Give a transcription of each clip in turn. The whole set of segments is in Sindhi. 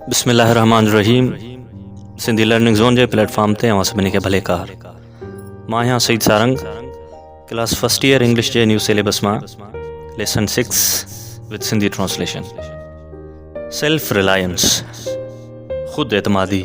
بسم الله الرحمن الرحيم سنڌي لرننگ زون جي پليٽ فارم تي اوهان سڀني کي ڀلي ڪار مان آهيان Saeed Sarang class first year English جي نيو سيليبس مان lesson six with Sindhi translation self reliance خود اعتمادي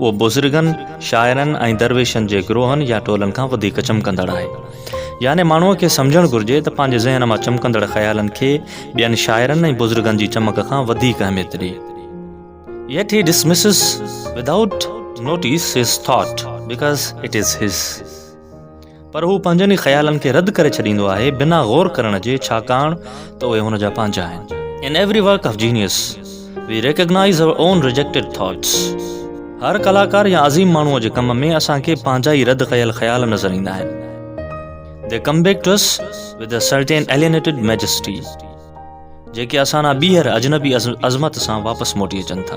اهو بزرگن، شاعرن ۽ درويشن جي گروهن يا ٽولن کان وڌيڪ چمڪندڙ آهي. يعني ماڻهوء کي سمجهڻ گهرجي ته پنهنجي ذهن مان چمڪندڙ خيالن کي ٻين شاعرن ۽ بزرگن جي چمڪ کان وڌيڪ اهميت ڏئي. Yet he dismisses without notice his thought because it is his. پر هو پنهنجن ئي خيالن کي رد ڪري ڇڏيندو آهي بنا غور ڪرڻ جي ڇاڪاڻ ته اهي هن جا پنهنجا آهن. In every work of genius we recognise our own rejected thoughts هر ڪلاڪار يا عظيم ماڻهوء جي ڪم ۾ اسان کي پنهنجا ئي رد ڪيل خيال نظر ايندا آهن they come back to us with a certain alienated majesty جيڪي اسان ڏانهن ٻيهر اجنبي عظمت سان واپس موٽي اچن ٿا.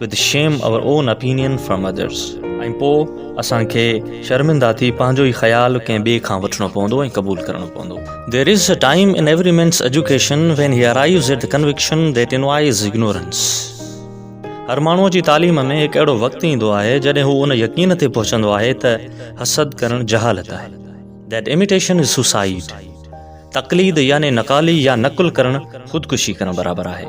With shame our own opinion from others ۽ پوء اسان کي شرمندا ٿي پنهنجو ئي خيال ڪنهن ٻئي کان وٺڻو پوندو ۽ قبول ڪرڻو پوندو there is a time in every man's education when he arrives at the conviction that envy is ignorance هر ماڻهو جي تعليم ۾ هڪ اهڙو وقت ايندو آهي جڏهن هو ان يقين تي پهچندو آهي ته حسد ڪرڻ جهالت آهي ديٽ اميٽيشن از سوسائيڊ تقليد يعني نقالي يا نقل ڪرڻ خودڪشي ڪرڻ برابر آهي.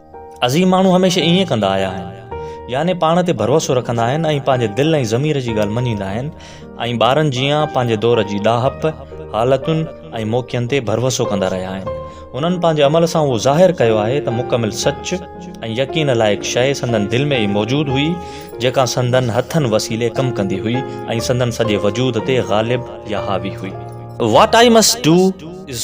عظيم ماڻهو هميشه ائين ڪندا آيا آهن. يعني پاڻ تي ڀروسو رکندا آهن ۽ پنهنجي دل ۽ ضمير جي ڳالهه مڃيندا آهن ۽ ٻارن جيان پنهنجي دور جي ڏاهپ، حالتن ۽ موقعن تي ڀروسو ڪندا رهيا آهن. هنن پنهنجي عمل سان اهو ظاهر ڪيو آهي ته مڪمل سچ ۽ يقين لائق شيء سندن دل ۾ ئي موجود هئي جيڪا سندن هٿن وسيلي ڪم ڪندي هئي ۽ سندن سڄي وجود تي غالب يا حاوي هئي. What I must do is.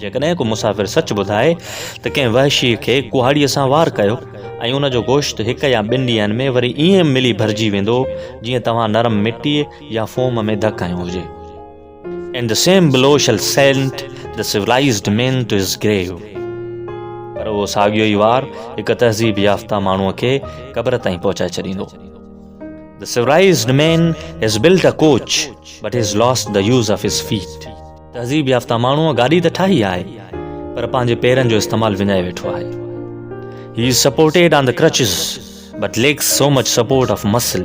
جيڪڏهن ڪو مسافر سچ ٻڌائي ته ڪنهن وحشي کي ڪهاڙيء سان وار ڪيو ۽ ان جو گوشت هڪ يا ٻن ڏينهن ۾ وري ائين ملي ڀرجي ويندو جيئن توهان نرم مٽيء يا فوم ۾ ڌڪ هنيو هجي. In the same blow shall send the civilized man to his grave پر اهو ساڳيو ئي وار هڪ تهذيب يافته ماڻهوء کي قبر تائين پهچائي ڇڏيندو. The civilized man has built a coach but has lost the use of his feet. تهذيب يافته ماڻهوء گاڏي ته ٺاهي آهي پر پنهنجي پيرن جو استعمال وڃائي ويٺو آهي he is supported on the crutches but lacks so much support of muscle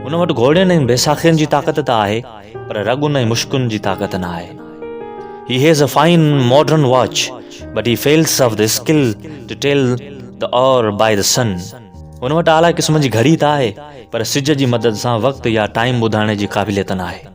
هن وٽ گهوڙين ۽ بيساخين جي طاقت ته آهي پر رڳن ۽ مشڪن جي طاقت نه آهي he has a fine modern watch but he fails of the skill to tell the hour by the sun هن وٽ اعليٰ قسم جي گهڙي ته آهي پر سج جي مدد سان وقت يا ٽائيم ٻڌائڻ جي قابليت نه آهي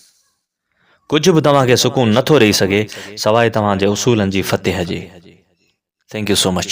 ڪجهه به توهان کي سڪون نه ٿو ڏئي سگهي سواء توهان جي اصولن جي فتح جي. Thank you so much.